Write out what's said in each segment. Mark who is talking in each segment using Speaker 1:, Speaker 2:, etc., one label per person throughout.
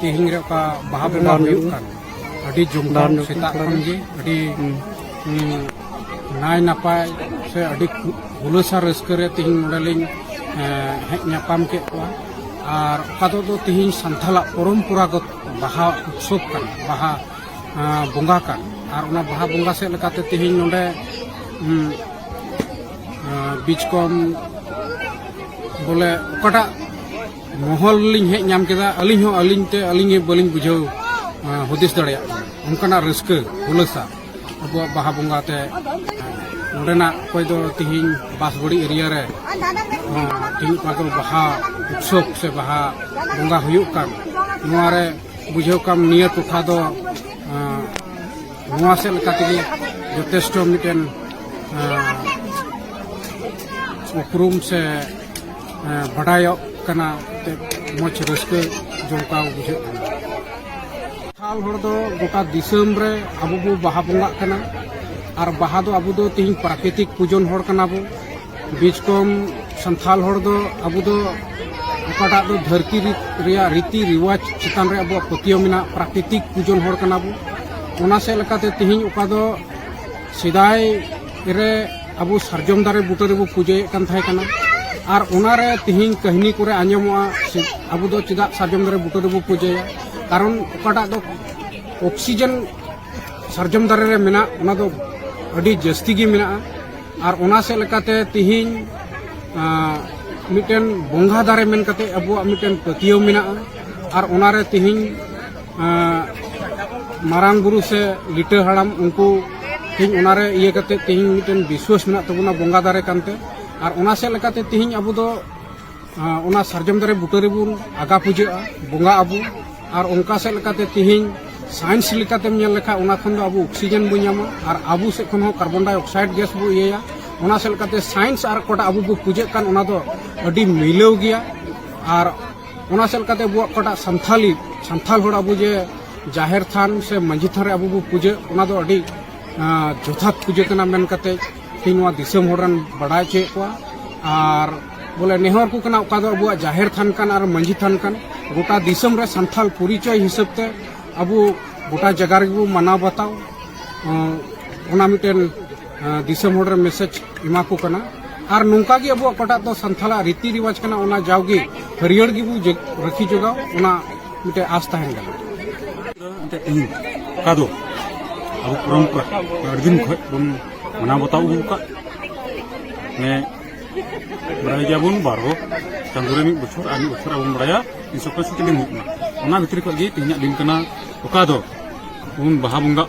Speaker 1: ᱛᱮᱦᱮᱧ ᱨᱮ ᱚᱠᱟ ᱵᱟᱦᱟ ᱵᱚᱸᱜᱟ ᱦᱩᱭᱩᱜ ᱠᱟᱱ ᱟᱹᱰᱤ ᱡᱚᱢᱫᱟᱨ ᱥᱮᱛᱟᱜ ᱠᱷᱚᱱ ᱜᱮ ᱟᱹᱰᱤ ᱱᱟᱭ ᱱᱟᱯᱟᱭ ᱥᱮ ᱟᱹᱰᱤ ᱦᱩᱞᱟᱹᱥᱟ ᱨᱟᱹᱥᱠᱟᱹ ᱨᱮ ᱛᱮᱦᱮᱧ ᱱᱚᱰᱮ ᱞᱤᱧ ᱦᱮᱡ ᱧᱟᱯᱟᱢ ᱠᱮᱫ ᱠᱚᱣᱟ ᱟᱨ ᱚᱠᱟ ᱫᱚ ᱛᱮᱦᱮᱧ ᱥᱟᱱᱛᱟᱞᱟᱜ ᱯᱚᱨᱚᱢᱯᱚᱨᱟᱜᱚᱛ ᱵᱟᱦᱟ ᱩᱛᱥᱚᱵ ᱠᱟᱱ ᱵᱟᱦᱟ ᱵᱚᱸᱜᱟ ᱠᱟᱱ ᱟᱨ ᱚᱱᱟ ᱵᱟᱦᱟ ᱵᱚᱸᱜᱟ ᱥᱮᱫ ᱞᱮᱠᱟᱛᱮ ᱛᱮᱦᱮᱧ ᱱᱚᱰᱮ ᱵᱤᱪᱠᱚᱢ ᱵᱚᱞᱮ ᱚᱠᱟᱴᱟᱜ ᱢᱚᱦᱚᱞ ᱞᱤᱧ ᱦᱮᱡ ᱧᱟᱢ ᱠᱮᱫᱟ ᱟᱹᱞᱤᱧ ᱦᱚᱸ ᱟᱹᱞᱤᱧ ᱛᱮ ᱟᱹᱞᱤᱧ ᱵᱟᱹᱞᱤᱧ ᱵᱩᱡᱷᱟᱹᱣ ᱦᱩᱫᱤᱥ ᱫᱟᱲᱮᱭᱟᱜ ᱠᱟᱱᱟ ᱚᱱᱠᱟᱱᱟᱜ ᱨᱟᱹᱥᱠᱟᱹ ᱦᱩᱞᱟᱹᱥᱟ ᱟᱵᱚᱣᱟᱜ ᱵᱟᱦᱟ ᱵᱚᱸᱜᱟ ᱛᱮ ᱱᱚᱰᱮᱱᱟᱜ ᱚᱠᱚᱭ ᱫᱚ ᱛᱤᱦᱤᱧ ᱵᱟᱥᱵᱟᱹᱲᱤ ᱮᱨᱤᱭᱟ ᱨᱮ ᱛᱤᱦᱤᱧ ᱚᱠᱟ ᱫᱚ ᱵᱟᱦᱟ ᱩᱛᱥᱚᱵ ᱥᱮ ᱵᱟᱦᱟ ᱵᱚᱸᱜᱟ ᱦᱩᱭᱩᱜ ᱠᱟᱱ ᱱᱚᱣᱟ ᱨᱮ ᱵᱩᱡᱷᱟᱹᱣ ᱠᱟᱢ ᱱᱤᱭᱟᱹ ᱴᱚᱴᱷᱟ ᱫᱚ ᱱᱚᱣᱟ ᱥᱮᱫ ᱞᱮᱠᱟ ᱛᱮᱜᱮ ᱡᱚᱛᱷᱮᱥᱴᱚ ᱢᱤᱫᱴᱮᱱ ᱩᱯᱨᱩᱢ ᱥᱮ ᱵᱟᱰᱟᱭᱚᱜ ᱠᱟᱱᱟ ᱢᱚᱡᱽ ᱨᱟᱹᱥᱠᱟᱹ ᱡᱚᱢᱠᱟᱣ ᱵᱩᱡᱷᱟᱹᱜ ᱠᱟᱱᱟ ᱥᱟᱱᱛᱟᱲ ᱦᱚᱲ ᱫᱚ ᱜᱚᱴᱟ ᱫᱤᱥᱚᱢ ᱨᱮ ᱟᱵᱚ ᱵᱚ ᱵᱟᱦᱟ ᱵᱚᱸᱜᱟᱜ ᱠᱟᱱᱟ ᱟᱨ ᱵᱟᱦᱟ ᱫᱚ ᱟᱵᱚ ᱫᱚ ᱛᱤᱦᱤᱧ ᱯᱨᱟᱠᱨᱤᱛᱤᱠ ᱯᱩᱡᱚᱱ ᱦᱚᱲ ᱠᱟᱱᱟ ᱵᱚ ᱵᱤᱡᱽ ᱠᱚᱢ ᱥᱟᱱᱛᱟᱲ ᱦᱚᱲ ᱫᱚ ᱟᱵᱚ ᱫᱚ ᱚᱠᱟᱴᱟᱜ ᱫᱚ ᱫᱷᱟᱹᱨᱛᱤ ᱨᱮᱭᱟᱜ ᱨᱤᱛᱤ ᱨᱤᱣᱟᱡᱽ ᱪᱮᱛᱟᱱ ᱨᱮ ᱟᱵᱚᱣᱟᱜ ᱯᱟᱹᱛᱭᱟᱹᱣ ᱢᱮᱱᱟᱜ ᱯᱨᱟᱠᱨᱤᱛᱤᱠ ᱯᱩᱡᱚᱱ ᱦᱚᱲ ᱠᱟᱱᱟ ᱵᱚ ᱚᱱᱟ ᱥᱮᱫ ᱞᱮᱠᱟᱛᱮ ᱛᱤᱦᱤᱧ ᱚᱠᱟ ᱫᱚ ᱥᱮᱫᱟᱭ ᱨᱮ ᱟᱵᱚ ᱥᱟᱨᱡᱚᱢ ᱫᱟᱨᱮ ᱵᱩᱴᱟᱹ ᱨᱮᱵᱚ ᱯᱩᱡᱟᱹᱭᱮᱫ ᱠᱟᱱ ᱛᱟᱦᱮᱸ ᱠᱟᱱᱟ ᱟᱨ ᱚᱱᱟᱨᱮ ᱛᱮᱦᱮᱧ ᱠᱟᱹᱦᱱᱤ ᱠᱚᱨᱮ ᱟᱸᱡᱚᱢᱚᱜᱼᱟ ᱟᱵᱚ ᱫᱚ ᱪᱮᱫᱟᱜ ᱥᱟᱨᱡᱚᱢ ᱫᱟᱨᱮ ᱵᱩᱴᱟᱹ ᱨᱮᱵᱚ ᱯᱩᱡᱟᱹᱭᱟ ᱠᱟᱨᱚᱱ ᱚᱠᱟᱴᱟᱜ ᱫᱚ ᱚᱠᱥᱤᱡᱮᱱ ᱥᱟᱨᱡᱚᱢ ᱫᱟᱨᱮ ᱨᱮ ᱢᱮᱱᱟᱜ ᱚᱱᱟ ᱫᱚ ᱟᱹᱰᱤ ᱡᱟᱹᱥᱛᱤ ᱜᱮ ᱢᱮᱱᱟᱜᱼᱟ ᱟᱨ ᱚᱱᱟ ᱥᱮᱫ ᱞᱮᱠᱟᱛᱮ ᱛᱮᱦᱮᱧ ᱢᱤᱫᱴᱮᱱ ᱵᱚᱸᱜᱟ ᱫᱟᱨᱮ ᱢᱮᱱ ᱠᱟᱛᱮ ᱟᱵᱚᱣᱟᱜ ᱢᱤᱫᱴᱮᱱ ᱯᱟᱹᱛᱭᱟᱹᱣ ᱢᱮᱱᱟᱜᱼᱟ ᱟᱨ ᱚᱱᱟᱨᱮ ᱛᱮᱦᱮᱧ ᱢᱟᱨᱟᱝ ᱵᱩᱨᱩ ᱥᱮ ᱞᱤᱴᱟᱹ ᱦᱟᱲᱟᱢ ᱩᱱᱠᱩ ᱛᱮᱦᱮᱧ ᱚᱱᱟᱨᱮ ᱤᱭᱟᱹ ᱠᱟᱛᱮ ᱛᱮᱦᱮᱧ ᱢᱤᱫᱴᱮᱱ ᱵᱤᱥᱣᱟᱥ ᱢᱮᱱᱟᱜ ᱛᱟᱵᱚᱱᱟ ᱵᱚᱸᱜᱟ ᱫᱟᱨᱮ ᱠᱟᱱᱛᱮ ᱟᱨ ᱚᱱᱟ ᱥᱮᱫ ᱞᱮᱠᱟᱛᱮ ᱛᱮᱦᱮᱧ ᱟᱵᱚ ᱫᱚ ᱚᱱᱟ ᱥᱟᱨᱡᱚᱢ ᱫᱟᱨᱮ ᱵᱩᱴᱟᱹ ᱨᱮᱵᱚᱱ ᱟᱜᱟ ᱯᱩᱡᱟᱹᱜᱼᱟ ᱵᱚᱸᱜᱟ ᱟᱵᱚ ᱟᱨ ᱚᱱᱠᱟ ᱥᱮᱫ ᱞᱮᱠᱟᱛᱮ ᱛᱮᱦᱮᱧ ᱥᱟᱭᱮᱱᱥ ᱞᱮᱠᱟᱛᱮᱢ ᱧᱮᱞ ᱞᱮᱠᱷᱟᱱ ᱚᱱᱟ ᱠᱷᱚᱱ ᱫᱚ ᱟᱵᱚ ᱚᱠᱥᱤᱡᱮᱱ ᱵᱚᱱ ᱧᱟᱢᱟ ᱟᱨ ᱟᱵᱚ ᱥᱮᱫ ᱠᱷᱚᱱ ᱦᱚᱸ ᱠᱟᱨᱵᱚᱱ ᱰᱟᱭ ᱚᱠᱥᱟᱭᱤᱰ ᱜᱮᱥ ᱵᱚ ᱤᱭᱟᱹᱭᱟ ᱚᱱᱟ ᱥᱮᱫ ᱞᱮᱠᱟᱛᱮ ᱥᱟᱭᱮᱱᱥ ᱟᱨ ᱚᱠᱟᱴᱟᱜ ᱟᱵᱚ ᱵᱚ ᱯᱩᱡᱟᱹᱜ ᱠᱟᱱ ᱚᱱᱟ ᱫᱚ ᱟᱹᱰᱤ ᱢᱤᱞᱟᱹᱣ ᱜᱮᱭᱟ ᱟᱨ ᱚᱱᱟ ᱥᱮᱫ ᱞᱮᱠᱟᱛᱮ ᱟᱵᱚᱣᱟᱜ ᱚᱠᱟᱴᱟᱜ ᱥᱟᱱᱛᱷᱟᱞᱤ ᱥᱟᱱᱛᱷᱟᱞ ᱦᱚᱲ ᱟᱵᱚ ᱡᱮ ᱡᱟᱦᱮᱨ ᱛᱷᱟᱱ ᱥᱮ ᱢᱟᱺᱡᱷᱤ ᱛᱷᱟᱱ ᱨᱮ ᱟᱵᱚ ᱵᱚ ᱯᱩᱡᱟᱹ ᱚᱱᱟ ᱫᱚ ᱟᱹᱰᱤ ᱡᱚᱛᱷᱟᱛ ᱯᱩᱡᱟᱹ ᱠᱟᱱᱟ ᱢᱮᱱ ᱠᱟᱛᱮ ᱛᱮᱦᱮᱧ ᱱᱚᱣᱟ ᱫᱤᱥᱚᱢ ᱦᱚᱲ ᱨᱮᱱ ᱵᱟᱰᱟᱭ ᱦᱚᱪᱚᱭᱮᱫ ᱠᱚᱣᱟ ᱟᱨ ᱵᱚᱞᱮ ᱱᱮᱦᱚᱨ ᱠᱚ ᱠᱟᱱᱟ ᱚᱠᱟ ᱫᱚ ᱟᱵᱚᱣᱟᱜ ᱡᱟᱦᱮᱨ ᱛᱷᱟᱱ ᱠᱟᱱ ᱟᱨ ᱢᱟᱺᱡᱷᱤ ᱛᱷᱟᱱ ᱠᱟᱱ ᱜᱚᱴᱟ ᱫᱤᱥᱚᱢ ᱨᱮ ᱥᱟᱱᱛᱷᱟᱞ ᱯᱚᱨᱤᱪᱚᱭ ᱦᱤᱥᱟᱹᱵ ᱛᱮ ᱟᱵᱚ ᱜᱚᱴᱟ ᱡᱟᱭᱜᱟ ᱨᱮᱜᱮ ᱵᱚ ᱢᱟᱱᱟᱣ ᱵᱟᱛᱟᱣ ᱚᱱᱟ ᱢᱤᱫᱴᱮᱱ ᱫᱤᱥᱚᱢ ᱦᱚᱲ ᱨᱮ ᱢᱮᱥᱮᱡᱽ ᱮᱢᱟ ᱠᱚ ᱠᱟᱱᱟ ᱟᱨ ᱱᱚᱝᱠᱟ ᱜᱮ ᱟᱵᱚᱣᱟᱜ ᱚᱠᱟᱴᱟᱜ ᱫᱚ ᱥᱟᱱᱛᱷᱟᱞᱟᱜ ᱨᱤᱛᱤ ᱨᱤᱣᱟᱡᱽ ᱠᱟᱱᱟ ᱚᱱᱟ ᱡᱟᱣᱜᱮ ᱦᱟᱹᱨᱭᱟᱹᱲ ᱜᱮᱵᱚ ᱨᱟᱹᱠᱷᱤ ᱡᱚᱜᱟᱣ ᱚᱱᱟ ᱢᱤᱫᱴᱮᱡ ᱟᱥ ᱛᱟᱦᱮᱱ ᱠᱟᱱᱟ ᱚᱠᱟ ᱫᱚ ᱟᱵᱚ ᱯᱚᱨᱚᱢᱯᱚᱨᱟ ᱟᱹᱰᱤ ᱫᱤᱱ ᱠᱷᱚᱡ ᱵᱚᱱ ᱢᱟᱱᱟᱣ ᱵᱟᱛᱟᱣ ᱟᱹᱜᱩ ᱟᱠᱟᱫ ᱢᱟᱱᱮ ᱵᱟᱲᱟᱭ ᱜᱮᱭᱟᱵᱚᱱ ᱵᱟᱨᱚ ᱪᱟᱸᱫᱳ ᱨᱮ ᱢᱤᱫ ᱵᱚᱪᱷᱚᱨ ᱟᱨ ᱢᱤᱫ ᱵᱚᱪᱷᱚᱨ ᱟᱵᱚᱱ ᱵᱟᱲᱟᱭᱟ ᱛᱤᱱ ᱥᱚ ᱯᱚᱸᱭᱥᱚᱴᱴᱤ ᱫᱤᱱ ᱦᱩᱭᱩᱜ ᱠᱟᱱᱟ ᱚᱱᱟ ᱵᱷᱤᱛᱨᱤ ᱠᱷᱚᱡ ᱜᱮ ᱛᱮᱦᱮᱧᱟᱜ ᱫᱤᱱ ᱠᱟᱱᱟ ᱚᱠᱟ ᱫᱚ ᱵᱚᱱ ᱵᱟᱦᱟ ᱵᱚᱸᱜᱟᱜ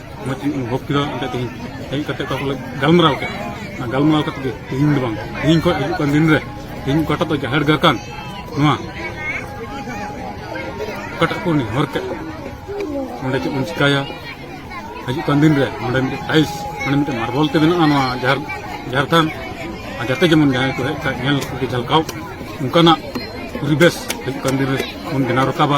Speaker 1: ᱢᱚᱡᱽ ᱤᱧ ᱚᱱᱩᱵᱷᱚᱵ ᱠᱮᱫᱟ ᱚᱸᱰᱮ ᱛᱮᱦᱮᱧ ᱦᱮᱡ ᱠᱟᱛᱮ ᱚᱠᱟ ᱠᱚᱞᱮ ᱜᱟᱞᱢᱟᱨᱟᱣ ᱠᱮᱫ ᱚᱱᱟ ᱜᱟᱞᱢᱟᱨᱟᱣ ᱠᱟᱛᱮ ᱜᱮ ᱛᱮᱦᱮᱧ ᱫᱚ ᱵᱟᱝ ᱛᱮᱦᱮᱧ ᱠᱷᱚᱱ ᱦᱤᱡᱩᱜ ᱠᱟᱱ ᱫᱤᱱ ᱨᱮ ᱛᱮᱦᱮᱧ ᱚᱠᱟᱴᱟᱜ ᱫᱚ ᱡᱟᱦᱮᱨ ᱜᱟᱲ ᱠᱟᱱ ᱱᱚᱣᱟ ᱚᱠᱟᱴᱟᱜ ᱠᱚ ᱱᱮᱦᱚᱨ ᱠᱮᱫ ᱚᱸᱰᱮ ᱪᱮᱫ ᱵᱚᱱ ᱪᱤᱠᱟᱭᱟ ᱦᱤᱡᱩᱜ ᱠᱟᱱ ᱫᱤᱱ ᱨᱮ ᱱᱚᱸᱰᱮ ᱢᱤᱫᱴᱮᱱ ᱴᱟᱭᱤᱞᱥ ᱢᱟᱱᱮ ᱢᱤᱫᱴᱮᱱ ᱢᱟᱨᱵᱚᱞ ᱛᱮ ᱢᱮᱱᱟᱜᱼᱟ ᱱᱚᱣᱟ ᱡᱟᱦᱮᱨ ᱡᱟᱦᱮᱨ ᱛᱷᱟᱱ ᱟᱨ ᱡᱟᱛᱮ ᱡᱮᱢᱚᱱ ᱡᱟᱦᱟᱸᱭ ᱠᱚ ᱦᱮᱡ ᱠᱷᱟᱡ ᱧᱮᱞ ᱠᱚᱜᱮ ᱡᱷᱟᱞᱠᱟᱣ ᱚᱱᱠᱟᱱᱟᱜ ᱯᱚᱨᱤᱵᱮᱥ ᱦᱤᱡᱩᱜ ᱠᱟᱱ ᱫᱤᱱ ᱨᱮ ᱵᱚᱱ ᱵᱮᱱᱟᱣ ᱨᱟᱠᱟᱵᱟ